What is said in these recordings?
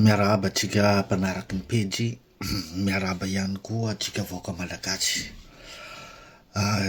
Miarahaba antsika mpanaraky ny pejy, miarahaba ihany koa antsika vahoaka malagasy.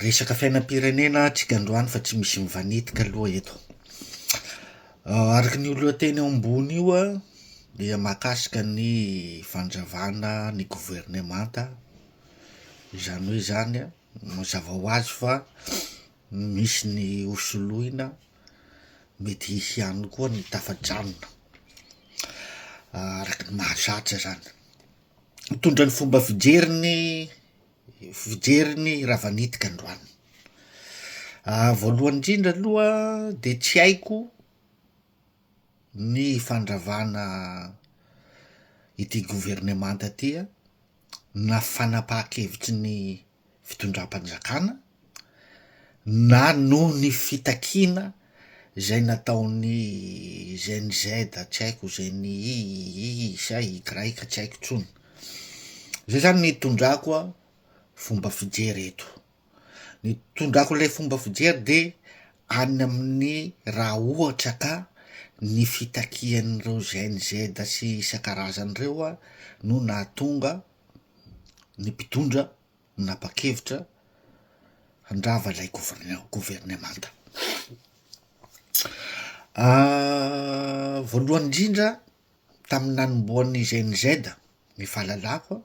Resaka fiainam-pirenena tsika androany fa tsy misy mivanetika aloha eto. Araka ny lohateny eo ambony io an, dia mahakasika ny fandravana ny governemanta, izany hoe zany an, mazava ho azy fa Misy ny ho soloina, mety hisy ihany koa ny tafajanona araka ny mahazatra izany. Mitondra ny fomba fijeriny fijeriny Ravanitika androany. Voalohany indrindra aloha dia tsy haiko ny fandravana ity governemanta ity an, na fanapahan-kevitry ny fitondram-panjakana na noho ny fitakiana izay nataon'ny GNZ tsy haiko izay ny i i i sa i graiky tsy haiko intsony, izay zany ny itondrako fomba fijery eto. Ny tondrako ilay fomba fijery de any amin'ny raha ohatra ka ny fitakian'ireo GNZ sy isan-karazany ireo a no nahatonga ny mpitondra nanapa-kevitra handrava ilay governa- governemanta. Voalohany indrindra tamin'ny nanombohan'ny GNZ ny fahalalako a.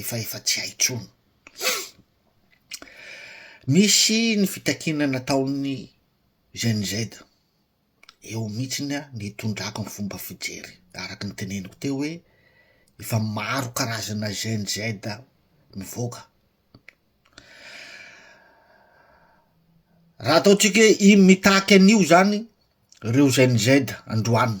efa efa tsy hay intsony. Nisy ny fitakiana nataon'ny Gen Z, eo mihitsiny a ny tondrako ny fomba fijery, araka ny teneniko teo hoe efa maro karazana Gen Z mivoaka. Raha ataontsika hoe iny mitaky an'io zany reo Gen Z androany,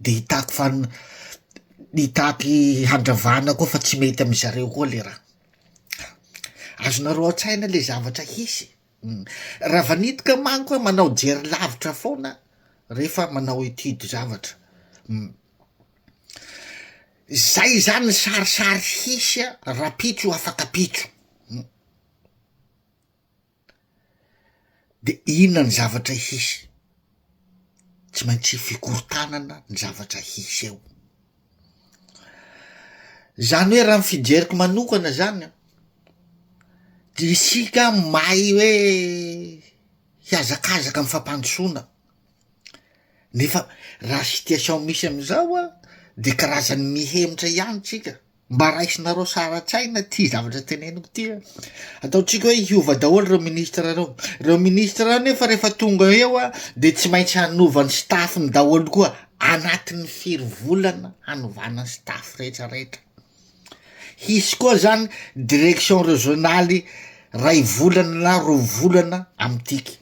de hitaky fan- hitaky handravana koa fa tsy mety amy zareo koa le raha, azonareo an-tsaina le zavatra hisy, um ravanidika manko a manao jery lavitra foana rehefa manao étude zavatra, um zay zany sarisary hisy a rahampitso afaka pitso um. De inona ny zavatra hisy? Tsy maintsy fikorontanana ny zavatra hisy eo, zany hoe raha ny fijeriko manokana zany an de isika mahay hoe hiazakazaka amy fampandrosoana nefa raha situation misy amizao an de karazan'ny mihemotra ihany tsika. Mba raisinareo sara-tsaina ity zavatra teneniko ity a! Ataontsika hoe hiova daholo ireo ministra ireo. Ireo ministra ireo nefa rehefa tonga eo a, dia tsy maintsy hanova ny staff-ny daholo koa anatin'ny firy volana hanovana ny staff rehetra rehetra. Hisy koa zany direction régionale iray volana na roa volana amin'ity.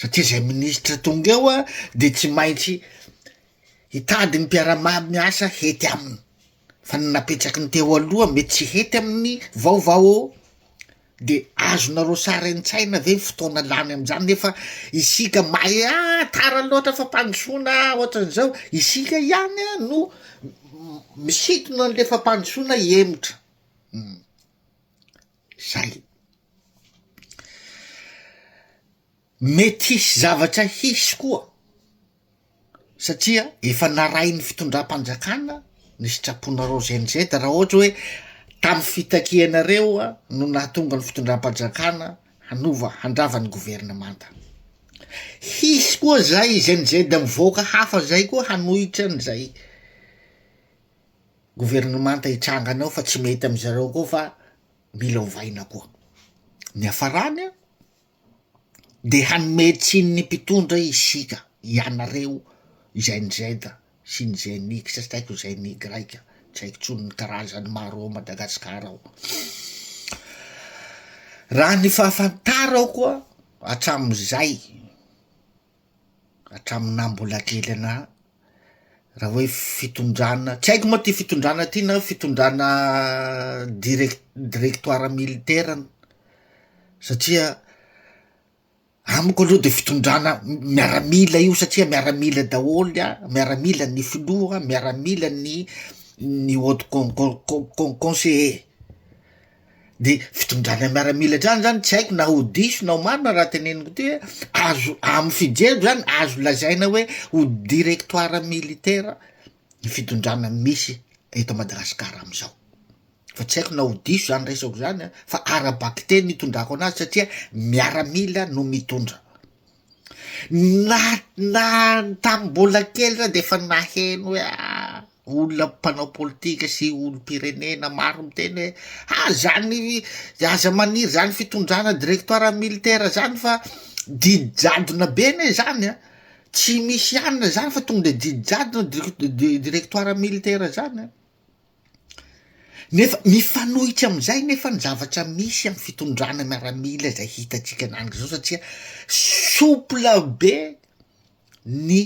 satria zay minisitra tonga eo a de tsy maintsy hitady ny mpiara-mah miasa hety aminy fa ny napetraky ny teo aloha mety tsy hety amin'ny vaovao de azonareo sary an-tsaina ve fotoana lany am'zany nefa isika mahay ah tara loatra fampandrosoana ah ohatran'izao isika ihany a no misintona an'le fampandrosoana hemotra. zay. Mety hisy zavatra hisy koa satria efa narahin'ny fitondram-panjakana ny sitraponareo GNZ raha ohatra hoe tamin'ny fitakianareo no nahatonga ny fitondram-panjakana hanova handrava ny governemanta. Hisy koa zay GNZ mivoaka hafa zay koa hanohitra an'izay. governemanta hitranga any ao fa tsy mety amin-dry zareo koa fa mila ovaina koa, ny hiafarany an dia hanome tsiny ny mpitondra isika ianareo izay ny Z sy ny GENIX sy tsy haiko izay ny Y tsy haiko intsony ny karazany maro ao Madagasikara ao, raha ny fahafantarako an hatramin'izay hatramin'ny naha mbola kely anah. Raha hoe fitondrana, tsy haiko moa ty fitondrana ty na fitondrana direc- directoire militaire satria amiko aloha de fitondrana miaramila io satria miaramila daholo an, miaramila ny filoha, miaramila ny ny haut con- con- conseiller. de fitondrana miaramila hatrany zany tsy haiko na ho diso na ho marina raha teneniko ty hoe azo amy fijeriko zany azo lazaina hoe ho directoire militaire ny fitondrana misy eto madagasikara amizao fa tsy haiko na ho diso zany resako zany an fa ara-bakiteny itondrako anazy satria miaramila no mitondra Na na tamin'ny mbola kely zah de efa naheno hoe ah olona mpanao politika sy olom-pirenena maro miteny hoe ah zany aza maniry zany fitondrana directoire militaire zany fa didy jadona be anie zany an, tsy misy anona zany fa tonga de didy jadona dir- directoire militaire zany an. Nefa mifanohitra amin'izay nefa ny zavatra misy amin'ny fitondrana miaramila izay hitantsika an'andro izao satria souple be ny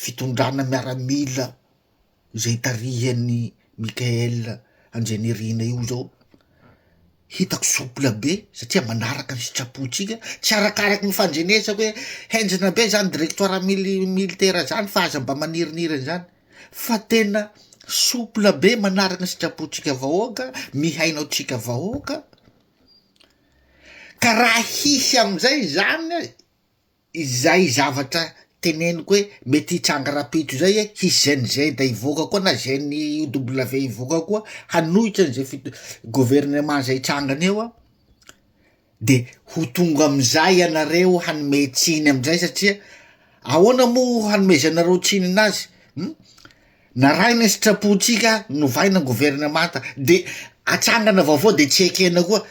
fitondrana miaramila izay tarihan'i Mickaël Andrianirina io zao, hitako souple be satria manaraka ny sitrapontsika, tsy arakaraky ny fandrenesako hoe henjana be zany directoire mili- militaire zany fa aza mba maniriniry an'izany. fa tena souple be manaraka ny sitrapontsika vahoaka, mihaino antsika vahoaka, ka raha hisy amin'izay izany izay zavatra teneniko hoe mety hitranga rapitso izay hoe hisy znz hivoaka koa na GNIW hivoaka koa hanohitra an'izay fi- governemant zay hitrangana eo an. dia ho tonga amin'izay ianareo hanome tsiny amin'izay satria ahoana moa hanomezanareo tsiny anazy um narahina sitrapontsika novaina governemanta de atsangana vaovao de tsy ekena koa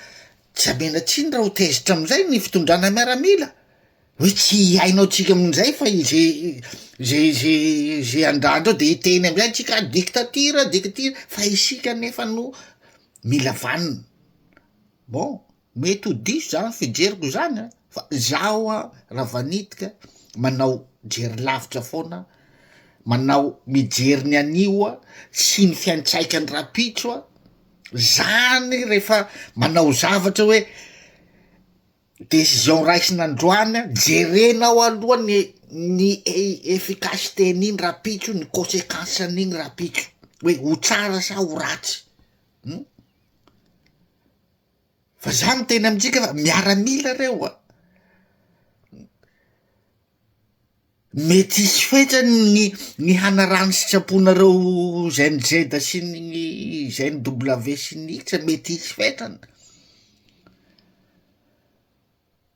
tsy amena tsiny raha ho tezitra amin'izay ny fitondrana miaramila hoe tsy hiainao tsika amin'izay fa ize ze ze ze andrandreo de hiteny amizay tsika diktatira diktatira fa isika nefa no mila vanina Bon, mety ho diso zany fijeriko zany an, fa zaho an raha vanitika manao jery lavitra foana an, manao mijery ny anio an, sy ny fiantraikan'ny rahampitso an, zany rehefa manao zavatra hoe decision raisina androany an, jerenao aloha ny ny efficacité an'iny rahampitso, ny consequence an'iny rahampitso hoe ho tsara sa ho ratsy. Fa za miteny amintsika fa miaramila reo a, mety hisy fetrany ny ny hanaraha ny sitraponareo GEN Z sy ny GEN W sy ny isa mety hisy fetrany.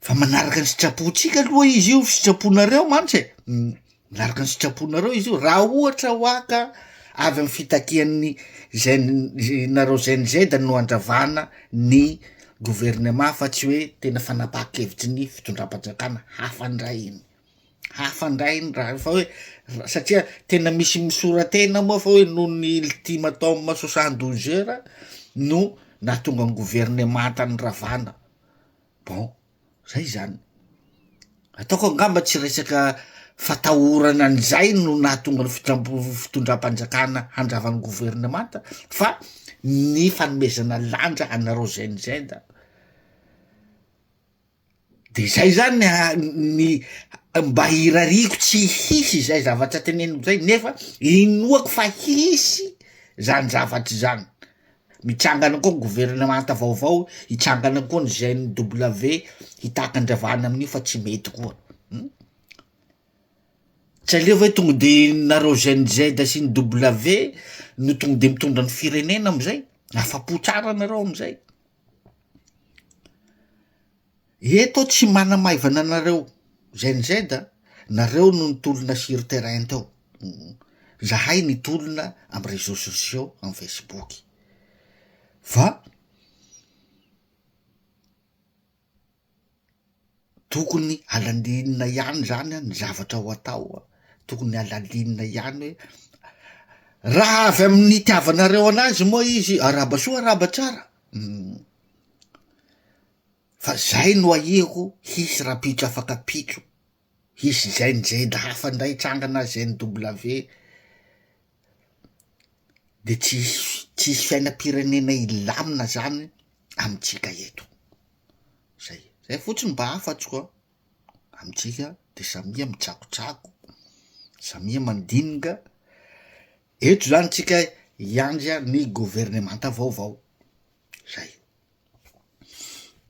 Fa manaraka ny sitrapontsika aloha izy io, sitraponareo mantsy e, manaraka ny sitraponareo izy io, raha ohatra hoa ka avy amin'ny fitakian'ny GN- nareo GNZ no handravana ny gouvernement fa tsy hoe tena fanapahan-kevitry ny fitondram-panjakana, hafa ndray iny, hafa ndray iny raha io fa hoe ra- satria tena misy misora-tena moa fa hoe noho ny ultimatum soixante douze heures no nahatonga ny gouvernemanta niravana. Bon, zay zany. Ataoko angamba tsy resaka fatahorana an'izay no nahatonga ny fitram-po- fitondram-panjakana handrava ny governemanta fa ny fanomezana lanja anareo GNZ a, de zay zany ny ha- ny mba irariako tsy hisy izay zavatra teneniko zay nefa inoako fa hisy zany zavatra zany, Mitrangana koa ny governemanta vaovao, hitrangana koa ny GNW, hitaky andravana amin'io fa tsy mety koa um tsy aleo ve tonga de nareo GNZ sy ny W no tonga de mitondra ny firenena amizay, afa-po tsara nareo amizay. Eto aho tsy manamaivana anareo znz a, nareo no nitolona sur terrain teo, zahay nitolona am reseaux sociaux am facebook fa tokony alalinina ihany zany an ny zavatra ho atao an, tokony alalinina ihany hoe raha avy amin'ny itiavanareo anazy moa izy araba soa araba tsara. Fa zay no ahiako hisy rapitso afaka pitso hisy zend zend hafa ndray hitsangana zend W de tsy hisy tsy hisy fiainam-pirenena hilamina zany amintsika eto zay zay fotsiny mba afatsiko an amintsika de samia mitsakotsako samia mandinika Eto izany tsika hiandry ny governemanta vaovao. Zay.